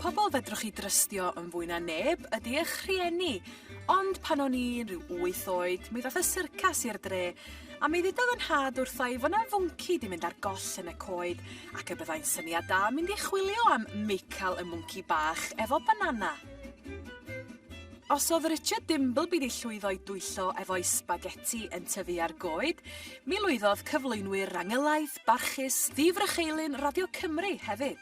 Pobl fedrwch chi drystio yn fwy na neb ydy eich rhieni. Ond pan o'n i'n rhyw wyth oed, mi ddoth y syrcas i'r dre, a mi ddudodd yn nhad wrtha i fod 'na fwnci 'di mynd ar goll yn y coed, ac y byddai'n syniad da mynd i chwilio am Mical y mwnci bach efo banana. Os oedd Richard Dimbleby 'di llwyddo i dwyllo efo'i sbageti yn tyfu ar goed, mi lwyddodd cyflwynwyr Rangylaidd, Barchus ddifrycheilyn Radio Cymru hefyd.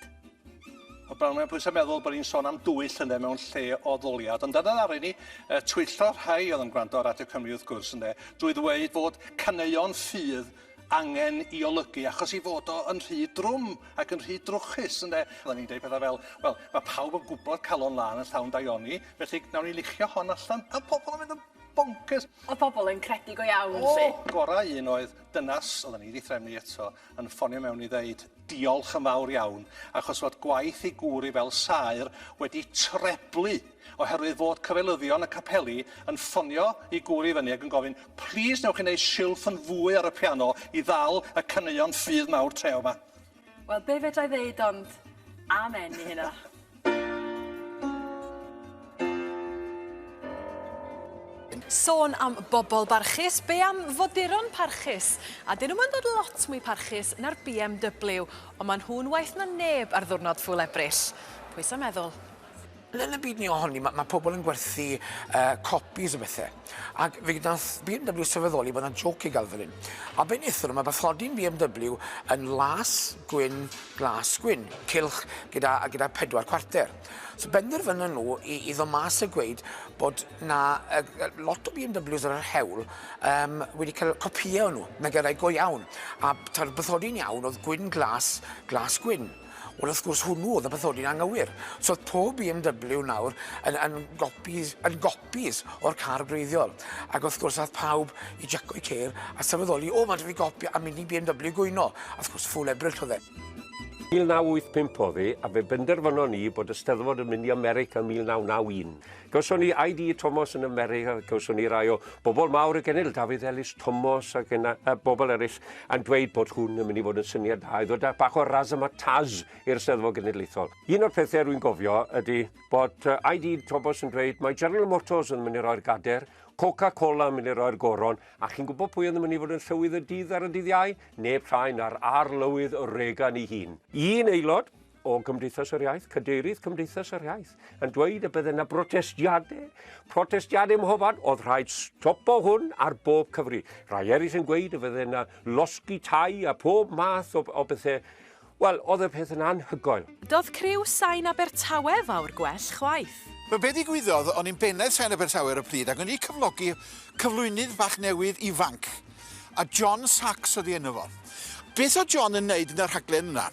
O bawb mae pwysau meddwl bod ni'n sôn am dwy llynedd mewn lle o ddoliad, ond dyna ddaru ni uh, twyllo rhai oedd yn gwrando ar Radio Cymru wrth gwrs ynde, drwy ddweud fod caneuon ffydd angen i olygu achos i fod o yn rhy drwm ac yn rhy drwchus ynde. Oedden ni'n deud pethau fel, wel, mae pawb yn gwybod calon lan yn llawn daioni, felly nawn ni lichio hon allan, a pobl yn mynd yn bonkers. Oedd pobl yn credu go iawn, oh, si. gorau un oedd Dynas, oedden ni 'di threfnu eto, yn ffonio mewn i ddeud diolch yn fawr iawn achos fod gwaith ei gŵr i fel saer wedi treblu oherwydd fod cyfeilyddion y capeli yn ffonio i gŵr i fyny ac yn gofyn plîs newch chi wneud silff yn fwy ar y piano i ddal y caneuon ffydd mawr treo 'ma. Wel be' fedrai ddeud ond amen i hynna. Sôn am bobol barchus, be' am foduron parchus? A 'dyn nw'm yn dod lot mwy parchus na'r BMW, ond ma' nhw'n waeth na neb ar ddiwrnod Ffŵl Ebrill. Pwy sa meddwl? Ble yn y byd ni o honni? Mae ma' pobl yn gwerthu uh, copies o bethau. Ac fe wnaeth BMW sylweddoli bod yna joc i gael fel hyn. A be wnaethon nhw, mae bathodyn BMW yn las, gwyn, glas, gwyn, cilch gyda, gyda pedwar cwarter. So benderfynon nhw i, i ddo mas a gweud bod na uh, lot o BMWs ar yr hewl um, wedi cael copïau o'n nhw, megarau go iawn. A ta'r bathodyn iawn oedd gwyn, glas, glas, gwyn. Wel wrth gwrs hwnnw o'dd y bathodyn anghywir. So o'dd pob BMW nawr yn yn gopis yn gopis o'r car gwreiddiol. Ac wrth gwrs ath pawb i jacco 'u ceir a sylweddoli o faint o fi gopio a mini BMW gwyno. A wrth gwrs ffwl Ebrill o'dd e. 1985 o'dd e a fe benderfynon ni bod y Steddfod yn mynd i America 1991. Gawson ni ID Tomos yn America, gawson ni rai o bobl mawr y genedl, Dafydd Elis Tomos ac yna, a bobl eraill, yn dweud bod hwn yn mynd i fod yn syniad da i ddod â bach o razzmatazz i'r Steddfod Genedlaethol. Un o'r pethau rwy'n gofio ydy bod ID Tomos yn dweud mae General Motors yn mynd i roi'r gader, Coca-Cola yn mynd i roi'r goron, a chi'n gwybod pwy oedd yn mynd i fod yn llywydd y dydd ar y dydd Iau? Neb llai na'r arlywydd Reagan ei hun. Un aelod o Gymdeithas yr Iaith, cadeirydd Cymdeithas yr Iaith, yn dweud y bydde yna brotestiadau, protestiadau mhofan, oedd rhaid stopo hwn ar bob cyfri. Rhai eraill yn gweud y bydde yna losgi tai a pob math o, o bethau. Wel, oedd y peth yn anhygoel. Doedd criw Sain Abertawe fawr gwell chwaith. Wel, be ddigwyddodd, o'n i'n bennaeth Sain Abertawe ar y pryd ac o'n i'n cyflogi cyflwynydd bach newydd ifanc. a John Sachs oedd ei enw fo. Beth oedd John yn wneud yn y rhaglen yna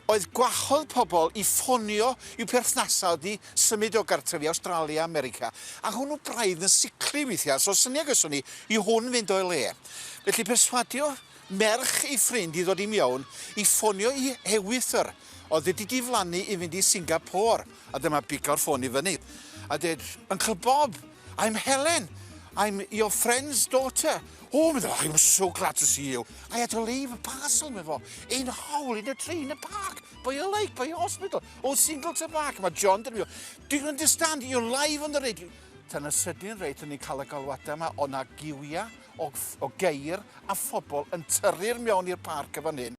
oedd gwahodd pobl i ffonio i'w perthnasau wedi symud o gartref i Awstralia, America, a hwnnw braidd yn sicli weithiau, so syniad gyson ni i hwn fynd o'i le. Felly perswadio merch ei ffrind i ddod i miown i ffonio i Hewithr, oedd wedi diflannu i fynd i Singapore, a dyma biglo'r ffôn i fyny a dweud, Uncle Bob, I'm Helen. I'm your friend's daughter. Oh, medda, I was so glad to see you. I had to leave a parcel, me fo. In a hole, in a tree, in a park, by a lake, by a hospital. Oh, single to back. Mae John dyn nhw. Do you understand? You're live on the radio. Tan y sydyn reit, o'n i'n cael y galwadau yma, o na giwiau, o, o geir, a phobl yn tyrru'r mewn i'r parc y fan hyn.